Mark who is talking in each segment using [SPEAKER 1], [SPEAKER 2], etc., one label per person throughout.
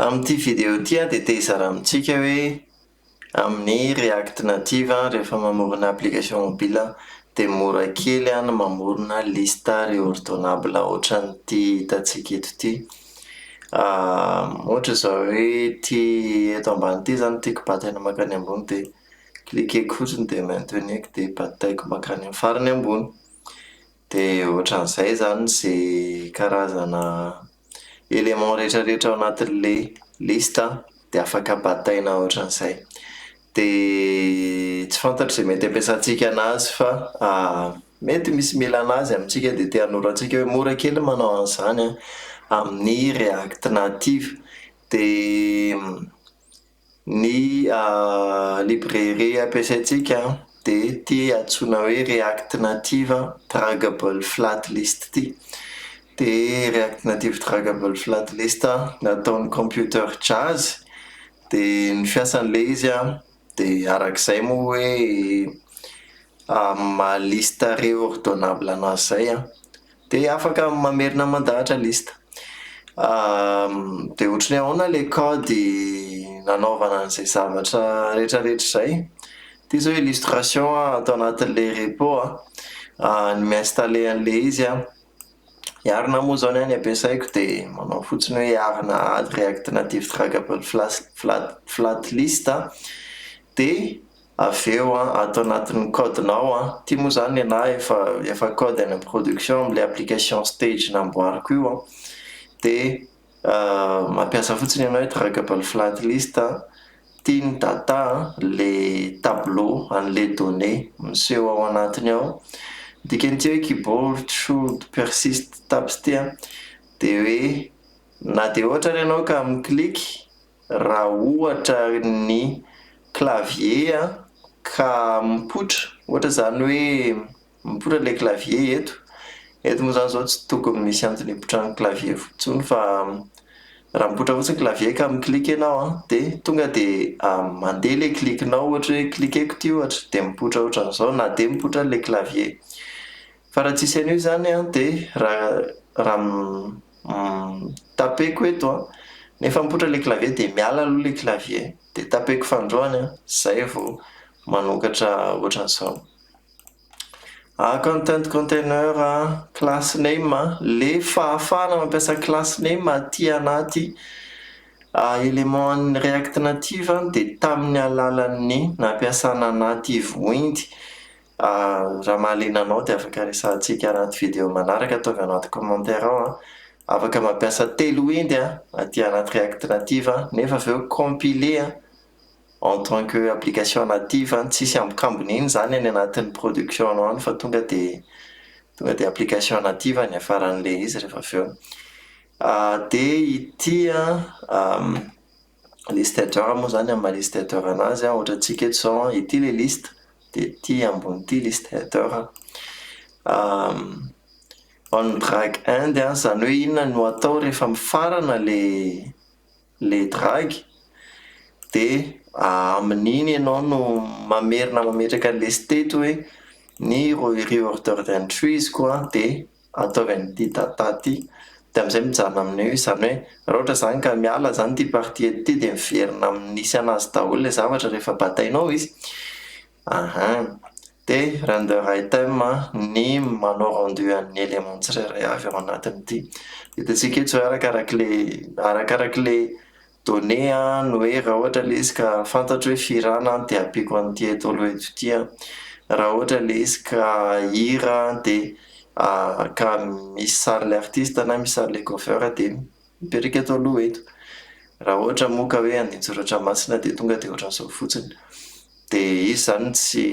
[SPEAKER 1] Amin'ity video ity an dia te hizara amintsika hoe amin'ny React Native an rehefa mamorona application mobile an dia mora kely an ny mamorona liste reordonnable ohatran'ity hitantsika eto ity ohatra izao hoe ity eto ambany ity izany no tiako batana mankany ambony dia cliqueko fotsiny dia maintenir-ko dia bataiko mankany amin'ny farany ambony De ohatran'izay zany ze karazana éléments retraretra ao anatin'le liste an, de afaka bataina ohatran'izay, de tsy fantatro ze mety ampiasantsika anazy fa mety misy mila anazy amintsika de te hanoro antsika hoe mora kely ny manao an'izany an, amin'ny react native de. Ny librairie ampiasaintsika dia ity antsoina hoe React Native Draggable Flat List ity. Dia React Native Draggable Flat List nataon'ny Computer Jazz. Dia ny fiasan'ilay izy dia araka izay moa hoe amin'ny maha liste reordonnable an'azy izay Dia afaka mamerina mandahatra liste. Dia ohatry ny hoe ahoana ilay kaody nanaovana an'izay zavatra rehetrarehetra izay? Ity izao illustration ato anatin'ilay repo an, ny mi-installer an'ilay izy an, i arina moa izao ny ahy ny ampiasaiko dia manao fotsiny hoe arina add react native draggable flash flat flat list an, dia avy eo an ato anatin'ny code nao an, ity moa zany nenahy efa efa code any amin'ny production amin'ilay application stage namboariko io an, dia mampiasa fotsiny ianao i draggable flat list an, ity ny data an, le tableau an'ilay donnée miseho ao anatiny ao, ny dikan'ity hoe keyboard should persist tabs ity an dia hoe na dia ohatra ary ianao ka mi-click, Raha ohatra ny clavier an, ka mipoitra, ohatra izany hoe mipoitra ilay clavier eto, eto moa izany izao tsy tokony misy antony hipotran'ny clavier intsony fa raha mipoitra fotsiny clavier ka mi-click ianao an, dia tonga dia mandeha ilay click-nao ohatra hoe click-eko ity ohatra dia mipoitra ohatran'izao na dia mipoitra ilay clavier. Fa raha tsisy an'io izany an dia raha raha tapeko eto an, nefa mipoitra ilay clavier dia miala aloha ilay clavier dia tapeko fandroany an, izay vao manokatra ohatran'izao. Ah content container an, class name an, ilay fahafahana mampiasa class name aty anaty éléments-n'ny React Native dia tamin'ny alalan'ny nampiasana native windy Ahh raha mahaliana anao dia afaka resahantsika anaty video manaraka ataovy anaty commentaire ao an! Afaka mampiasa telo windy an, aty anaty React Native an, nefa avy eo compiler an en tant que application native an, tsisy ambokambony iny izany any anatin'ny production nao any fa tonga dia tonga dia application native ny hiafaran'ilay izy rehefa avy eo. Ahh dia ity an, liste jar moa zany amin'ny maha liste header anazy an, ohatra antsika eto zao an, ity le liste dia ity ambony ity liste header on drag end an, zany hoe inona no atao rehefa mifarana le le drag dia amin'iny ianao no mamerina mametraka ny liste eto hoe ny re-order entries ko an dia ataovy an'ity tata ty de amzay mijanona amin'io izy zany hoe ra ohatra zany ka miala zany ty partie eto ty de miverina amin'ny nisy anazy daholo le zavatra rehefa batainao izy aha de render item ny manao rendu an'ny element tsirairay avy ao anatin'ity hitantsika eto zao hoe arakarak'le arakarak'le Donner a ny hoe raha ohatra ilay izy ka fantatro hoe firana dia ampiako an'ity eto aloha eto ity a, raha ohatra ilay izy ka hira dia ka misy sarin'ilay artista na misy sarin'ilay cover dia mipetraka eto aloha eto, raha ohatra moa ka hoe andinin-tsoratra masina dia tonga dia ohatran'izao fotsiny, dia izy izany tsy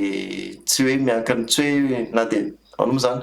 [SPEAKER 1] tsy hoe miankina tsy hoe na dia ahoana moa izany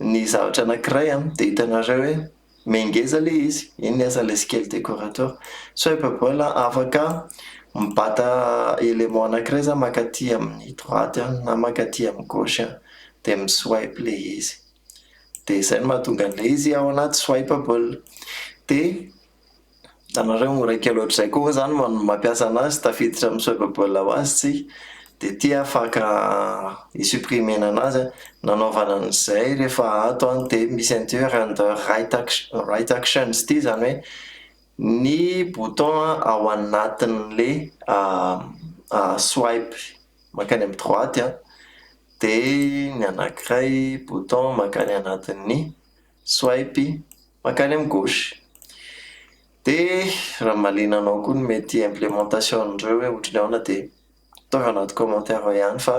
[SPEAKER 1] Ny zavatra anakiray an, dia hitanareo hoe mengeza le izy, iny ny asan'ilay scale decorator, soit efa voila afaka mibata élément anakiray za mankaty amin'ny droite an, na mankaty amin'ny gauche an, dia mi swipe le izy, dia izay no mahatonga an'ilay izy ao anaty swipeable, dia Hitanareo miraika loatra izay koa ve zany no mampiasa anazy tafiditra amin'ny swipeable ho azy tsika dia ity afaka hi-supprimer-na anazy an, nanaovana an'izay rehefa ato an dia misy an'ity hoe render right action right actions ity izany hoe ny bouton ao anatin'ilay swipe mankany amin'ny droite an dia ny anankiray bouton mankany anatin'ny Swipe mankany amin'ny gauche. Dia raha mahaliana anao koa ny mety implémentation-n'ireo hoe ohatran'ny ahoana dia ataovy anaty commentaire ao ihany fa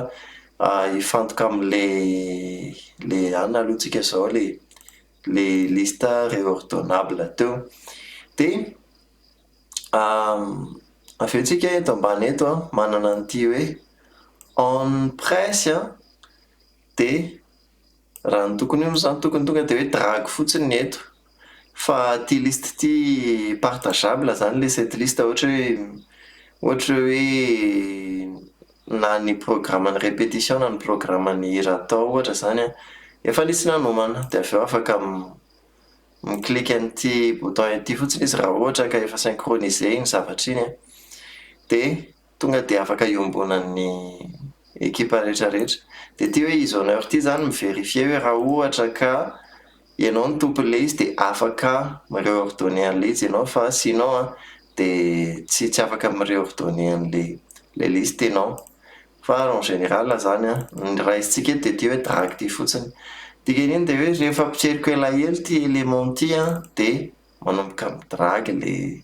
[SPEAKER 1] hifantoka amin'ilay anona aloha tsika izao ilay ilay liste reordonnable teo. Dia avy eo tsika eto ambany eto an, manana an'ity hoe on price dia. Raha ny tokony ho izy izany tokony tonga dia hoe dragy fotsiny ny eto. Fa ity liste ity partageable izany ilay cette liste ohatra hoe ohatra hoe na ny programan'ny répétition na ny programan'ny hira atao ohatra izany an, efa nisy nanomana dia avy eo afaka mi clique an'ity bouton ity fotsiny izy raha ohatra ka efa synchronisé iny zavatra iny an, dia Tonga dia afaka iombonan'ny ekipa rehetrarehetra. Dia ity hoe izy honneur ity izany mi-verifier hoe raha ohatra ka ianao no tompon'ilay izy dia afaka mi-reordonner an'ilay izy ianao fa sinon an dia tsy tsy afaka mi-reordonner an'ilay ilay liste ianao. Fa en général izany an, ny raisintsika eto dia ity hoe drag ity fotsiny. Dikan'iny dia hoe rehefa ampitreriko elaela ity élément ity an dia manomboka mi-drag ilay.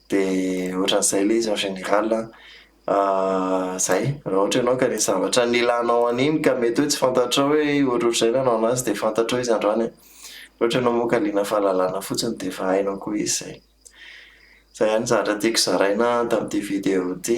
[SPEAKER 1] De ohatran'izay le izy en général a. Zay, raha ohatra ianao ka nisy zavatra nilanao an'iny ka mety hoe tsy fantatrao hoe ohatrohatr'izay nanaonao azy de fantatrao izy androany e. Raha ohatra ianao moa ka liana fahalalana fotsiny de efa hainao koa izy zay. Zay ihany ny zavatra tiako zaraina tamin'ity vidéo ity.